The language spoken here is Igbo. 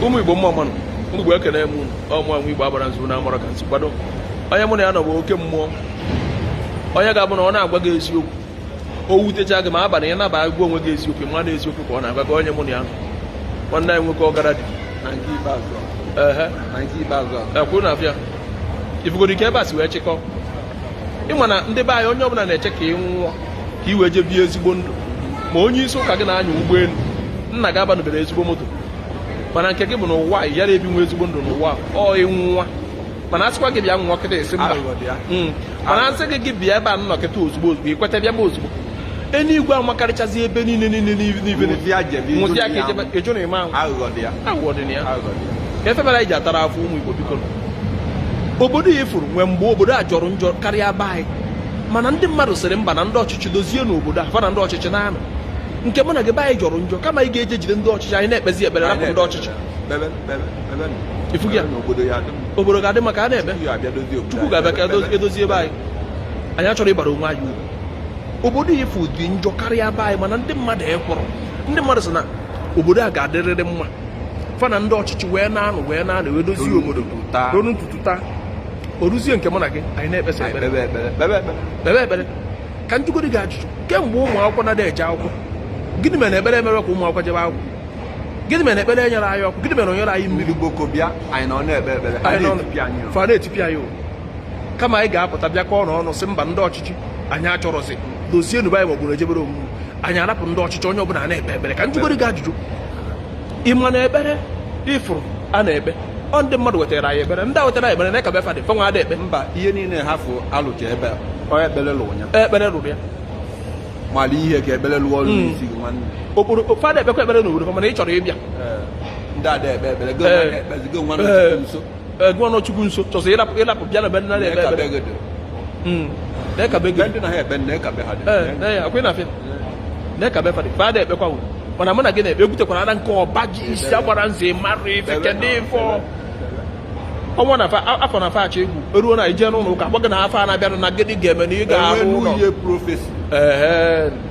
ụmụ igbo mma mmanụ ụmụ igbo ekene m unu ọmụ anwụ igbo agbara nzu na amara ka nsi kwado onye mụ na ya nọ bụ oke mmụọ onye ga-abụ na ọ na-agwa gị eziokwu o wutecha gị ma abalị ị naba agwa onwe gị eziokwu ma na eziokwu ka ọ na-agwa gị onye mụ na ya nọ nwanne anyị nwoke ọgara dị na nke ikpeazụ a. ehe na nke ikpeazụ a ekwuru na abịa ifugodi ka ebe a si wee chịkọ ị ma na ndị be anyị onye ọbụla na-eche ka ị nwụọ ka ị wee jee bie ezigbo ndụ ma onye isi ụka gị na-anya ụgbọelu nna gị abanụbere ezigbo moto mana nke gị bụ na ụwa ya na-ebi nwe ezigbo ndụ n'ụwa ọ ịnwụwa mana asịkwa gị bịa nwụọ kịta ị sị mba hmm. mana asị gị gị bịa ebe a nọ kịta ozugbo ozugbo ị kweta bịa baa ozugbo enuigwe amakarịchazi ebe niile niile n'ibe nwụsịa ka ejụ na ịma ahụ aghụghọ dị ya efebara iji atara afọ ụmụ Igbo biko obodo a ị fụrụ nwee mgbe obodo a jọrọ njọ karịa be anyị mana ndị mmadụ sịrị mba na ndị ọchịchị dozienụ obodo a fa na ndị ọchịchị na-anụ nke mụ na gị be anyị jọrọ njọ kama ị ga-eje jide ndị ọchịchị anyị na-ekpezi ekpere rapụ ndị ọchịchị obodo ga-adị mma ka a na-eme chukwu ga-abịa ka edozie be anyị anyị achọrọ ịbara onwe anyị uru obodo a ị fụ dị njọ karịa be anyị mana ndị mmadụ ekwerọ ndị mmadụ sị na obodo a ga-adịrịrị mma fa na ndị ọchịchị wee na-anụ wee na-anụ wee dozie obodo ruo n'ụtụtụ taa o ruzie nke mụ na gị anyị na-ekpesa ekpere kpebe ekpere ka njụgodi gị ajụjụ kemgbe ụmụ akwụkwọ na-ada eje akwụkwọ gịnị mere ekpere emere ka ụmụ akwụkwọ jebe akwụkwọ gịnị mere ekpere enyere anyị ọkụ gịnị mere o nyere anyị mmiri gboko bịa anyị nọ na-ekpe ekpere fa na-etipịa anyị kama anyị ga-apụta bịakọọ ọnụ sị mba ndị ọchịchị anyị achọrọzi dozienụ be anyị maọbụ na ejebere omume anyị arapụ ndị ọchịchị onye ọbụla na-ekpe ekpere ka njụgodi gị ajụjụ ị ma na ekpere ị fụrụ a na-ekpe ọ ndị mmadụ wetara anyị ekpere ndị a wetara ekpere n'aka be fa dị fanwa ada ekpe mba ihe niile ha fụ alụcha ebe onye ekpere lụrụ ya ekpere lụrụ ya mara ihe ka ekpere lụọ ọrụ n'isi gị nwanne okporo fa ada ekpekwa ekpere n'obodo mana ị chọrọ ịbịa eh, ndị ada ekpe ekpere gịnwa na-ekpezi gịnwa nọ nso gịnwa nọ chukwu nso chọsị ịrapụ bịa na be nna na-ekpe ekpere n'aka be gị ndị na ha ekpe n'aka be ha akwụ na afịa n'aka be fa dị fa ada ekpekwa wụ mana mụ na gị na-ekpe egwutekwara na nke ọba ji isi agbara nze mara ife kedụ ife ọnwa na afọ na afa achọ egwu eruo na ije n'ụlọ ụka gbaga na afọ a na-abịanụ na gịnị ga-eme na ị ga-ahụ ụlọ